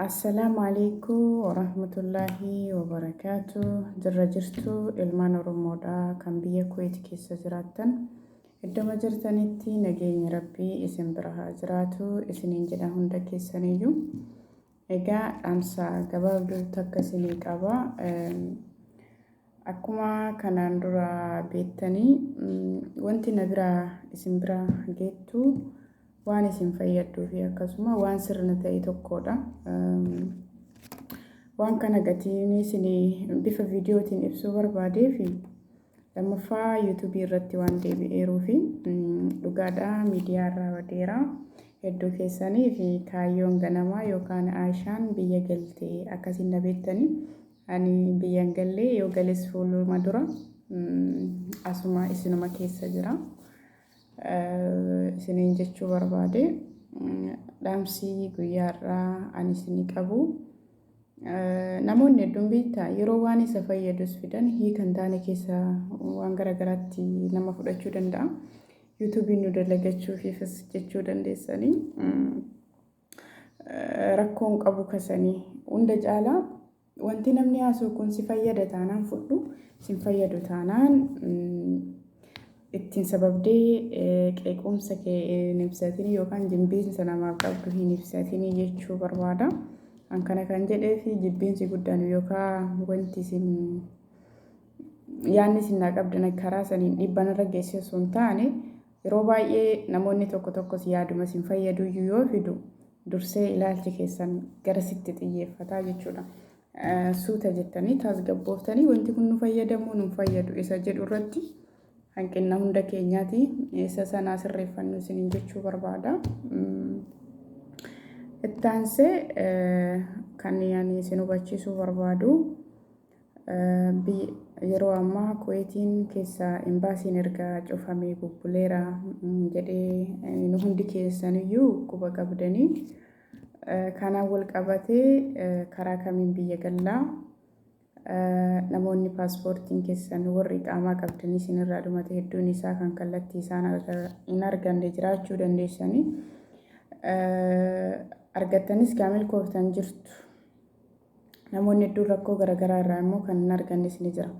Assalaamu alaikum warahmatullaahi wabarakaatu jirra jirtu ilmaan oromoodha kan biyya kuweeti keessa jiraattan iddoma jirtanitti nageenyi rabbii isin bira haa jiraatu isiniin jedha hunda keessaniyyuu egaa dhaamsa gabaabduu takka isinii qaba Akkuma kanaan dura beettanii wanti na biraa isin bira geettu waan isin fayyaddu fi akkasuma waan sirna ta'e tokkodha. Waan kana gatiin isin bifa viidiyootiin ibsuu barbaadee fi lammaffaa yuutuubii irratti waan deebi'eeruu fi dhugaadha miidiyaa irraa badeera. Hedduu keessanii fi kaayyoon ganamaa yookaan Aayishaan biyya galte akkasiin na beettanii Ani biyya hin galle yoo gales fuuluma dura asuma isinuma keessa jira. Isiniin jechuu barbaade dhaamsi guyyaa har'aa ani isinii qabu namoonni hedduun beektaa yeroo waan isa fayyadus fidan hiika hin taane keessa waan gara garaatti nama fudhachuu danda'a. Yuutuubiin nu dalagachuufiifis jechuu dandeessanii. rakkoo hin qabu kasanii hunda caalaa wanti namni haasoo kun si fayyada taanaan fudhu sin fayyadu taanaan ittiin sababdee qeequmsa kee hin ibsatin yookaan jibbiinsa namaaf qabdu hin ibsatin jechuu barbaada. An kana kan jedhee fi jibbiinsi guddaan yookaan wanti isin yaadni isin naa qabdan karaa saniin dhiibbaan irra geessee osoo hin taane Yeroo baay'ee namoonni tokko tokkos yaaduma isin fayyaduyyuu yoo fidu dursee ilaalchi keessan garasitti xiyyeeffataa jechuudha. Suuta jettanii tasgabbooftanii wanti kun nu fayyadamuu nu fayyadu isa jedhu irratti hanqinna hunda keenyaati isa sanaa sirreeffannu isiniin jechuu barbaada. Ittaansee kan ani isin hubachiisuu barbaadu B. Yeroo ammaa Kuweetiin keessa Imbaasiin erga cufamee bubbuleera jedhee nu hundi keessaniyyuu quba qabdanii kanaan wal qabatee karaa kamiin biyya gallaa namoonni paaspoortiin keessan warri qaamaa qabdanii isinirraa dhumate hedduun isaa kan kallattii isaan hin arganne jiraachuu dandeessanii argattanis kaa milkooftan jirtu. Namoonni hedduun rakkoo garagaraa irraa immoo kan hin argannes ni jira.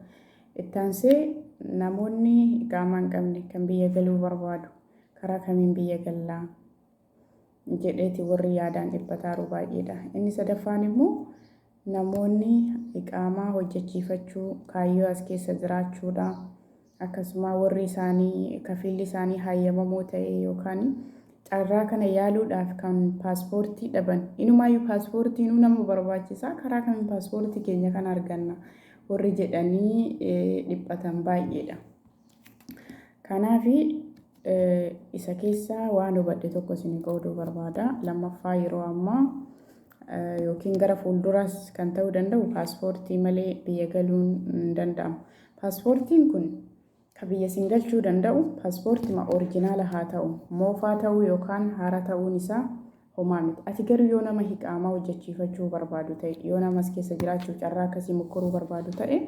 Itti aansee namoonni iqaamaa hin qabne kan biyya galuu barbaadu karaa kamiin biyya gallaa jedheeti warri yaadaan dhiphataaru baay'eedha. Inni sadaffaan immoo namoonni iqaamaa hojjechiifachuu kaayyoo as keessa jiraachuudha. akkasumaa warri isaanii kafiilli isaanii hayyamamoo ta'ee yookaan carraa kana yaaluudhaaf kan paaspoortii dhaban inumaayyuu paaspoortiinuu nama barbaachisaa karaa kamiin paaspoortii keenya kan arganna warri jedhanii dhiphatan baay'eedha. Kanaaf isa keessaa waan hubadhe tokko isin qooduu barbaada. Lammaffaa yeroo ammaa yookiin gara fuulduraas kan ta'uu danda'u paaspoortii malee biyya galuun hin danda'amu. Paaspoortiin kun ka biyya isin galchuu danda'u paaspoortima orijinaala haa ta'u, moofaa ta'uu yookaan haaraa ta'uun isaa homaa miti. Ati garuu yoo nama hiqaamaa hojjachiifachuu barbaadu ta'e, yoo nama as keessa jiraachuuf carraa akkasii mokkoruu barbaadu ta'e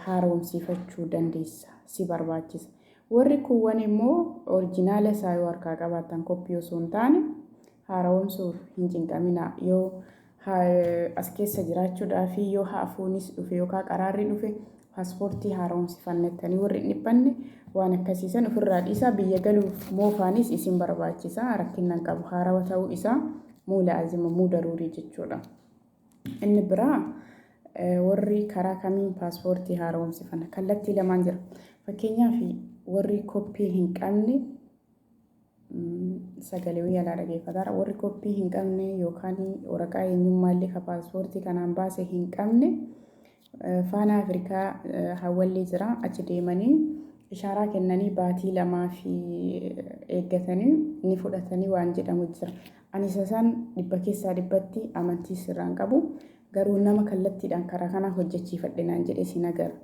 haaroomsiifachuu dandeessa, si barbaachisa. Warri kuuwwan immoo orijinaala isaa yoo harkaa qabaattan koppii osoo hin taane haarawoomsuuf hin cinqaminaa. Yoo as keessa jiraachuudhaafii yoo haafuunis dhufe yookaan qaraarri dhufe paaspoortii haaromsifannettanii warri hin dhiphanne waan akkasiisan ofirraa dhiisaa biyya galuuf moofaanis isin barbaachisa rakkinnan qabu haarawa ta'uu isaa muu laazima muu daruurii jechuudha. Inni biraa warri karaa kamiin paaspoortii haaromsifanna kallattii lamaan jira. Fakkeenyaaf warri koppii hin qabne sagalee wayii alaa dhageeffataara. Warri koppii hin qabne yookaan waraqaa eenyummaa illee ka paaspoortii kanaan baase hin qabne faana Afrikaa hawwallee jira achi deemanii ishaaraa kennanii baatii lamaa fi eeggatanii ni fudhatanii waan jedhamu jira. Ani isa san dhibba keessaa dhibbatti amantii sirraan qabu. Garuu nama kallattiidhaan karaa kanaa hojjechiifadhe naan jedhes hin agarre.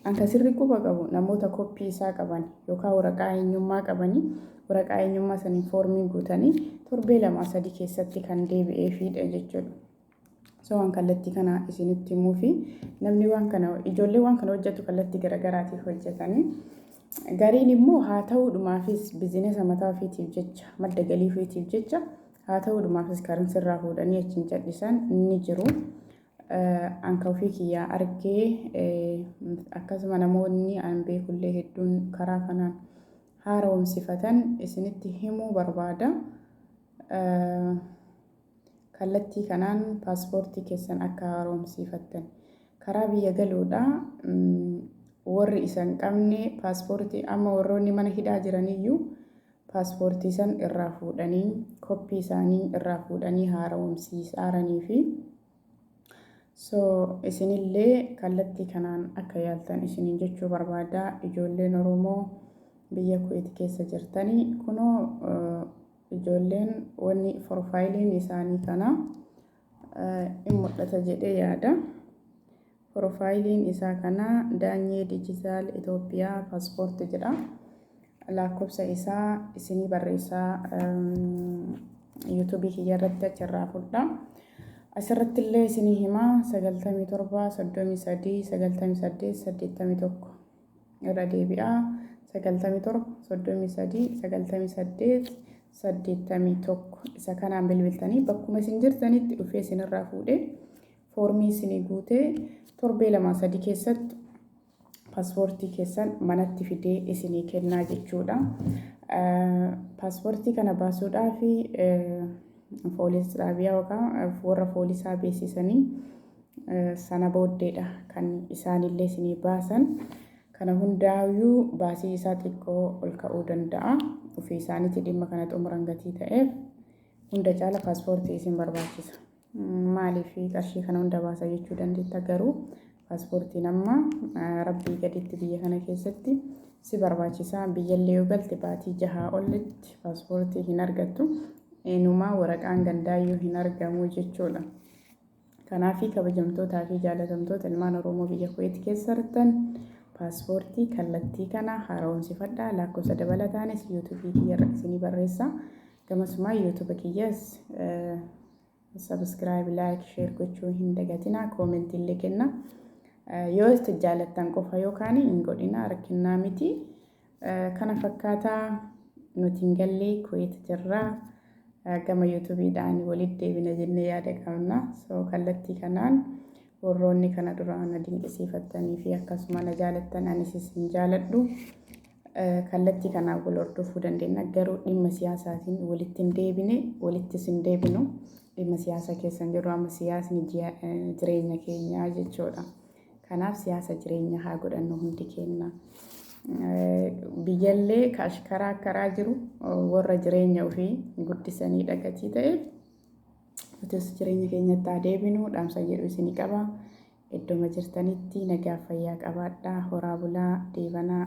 An kan sirrii quba qabu namoota koppii isaa qaban yookaan waraqaa eenyummaa qabanii waraqaa eenyummaa saniin foormii guutanii torbee lamaa sadii keessatti kan deebi'eefiidha jechuudha. So waan kallattii kana isinitti himuu fi namni waan kana ijoollee waan kana hojjetu kallattii garaagaraatiif hojjetanii gariin immoo haa ta'uudhumaafis bizinesa mataa ofiitiif jecha madda galii ofiitiif jecha Haa ta'uu dhumaafis karin sirraa fuudhanii achiin cadhisan ni jiru. Anka ofii kiyyaa argee akkasuma namoonni an beekullee hedduun karaa kanaan haaromsifatan isinitti himuu barbaada. Kallattii kanaan paaspoortii keessan akka haaromsiifattan. Karaa biyya galuudha warri isan qabne paaspoortii amma warroonni mana hidhaa jiraniyyuu paaspoortii san irraa fuudhanii koppii isaanii irraa fuudhanii haarawomsiisaaranii fi so isinillee kallattii kanaan akka yaaltan isiniin jechuu barbaada ijoolleen oromoo biyya kuweeti keessa jirtanii kunoo ijoolleen wanni forfaayiliin isaanii kana in mul'ata jedhee yaada. Porofaayiliin isaa kana Daanyee Diijitaal Itoophiyaa Paaspoorti jedha. Laakkofsa isaa isinii barreessaa yuutuubii kiyya irratti achirraa fudhaa. Asirratti illee isinii himaa 97 33 98 81. irra deebi'a 97 33 98 81 isa kanaan bilbiltanii bakkuma isin jirtanitti dhufee isinirraa fuudhee foormii isinii guutee torbee lamaa sadii keessatti paaspoortii keessan manatti fidee isinii kennaa jechuudha. Paaspoortii kana baasuudhaaf poolis xaabiyaa yookaan warra poolisaa beeksisanii Sana booddeedha kan isaanillee isinii baasan. Kana hundaayyuu baasii isaa xiqqoo ol ka'uu danda'a. Ofii isaaniitii dhimma kana xumuran gatii ta'eef hunda caala paaspoortii isin barbaachisa. Maaliif qarshii kana hunda baasa jechuu dandeetta garuu paaspoortiin amma rabbii gaditti biyya kana keessatti si barbaachisa. Biyyallee yoo galte baatii jahaa olitti paaspoortii hin argattu. Inumaa waraqaan gandaayyuu hin argamu jechuudha. Kanaafi kabajamtootaa fi jaalatamtoota ilmaan Oromoo biyya Kuweet keessa jirtan paaspoortii kallattii kana haara'oomsifadhaa laakkofsa dabalataanis youtube kiyya irra isinii barreessa gamasumaa youtube kiyyas subscribe like share gochuu hin dagatinaa comment illee kenna yoo jaalattan qofa yookaan hin godhinaa rakkinnaa miti Kana fakkaata nuti hin galle Kuwait jirra gama YouTube dhaan walitti deebina jennee yaada qabna so kallattii kanaan warroonni kana duraa na dinqisiifattanii fi akkasuma na jaalattan anis isin jaaladhu kallattii kanaan wal hordofuu dandeenya garuu dhimma siyaasaatiin walitti hin deebine walitti isin deebinu dhimma siyaasa keessan jedhu amma siyaasni jireenya keenyaa jechuudha. Kanaaf siyaasa jireenya haa godhannu hundi keenna. Biyyallee ka ashkaraa akkaraa jiru warra jireenya ofii guddisanii dhagatii ta'eef nutis jireenya keenyatti haa deebinu dhaamsa jedhu isinii qaba. Iddoma jirtanitti nagaa fayyaa qabaadhaa horaa bulaa deebanaa.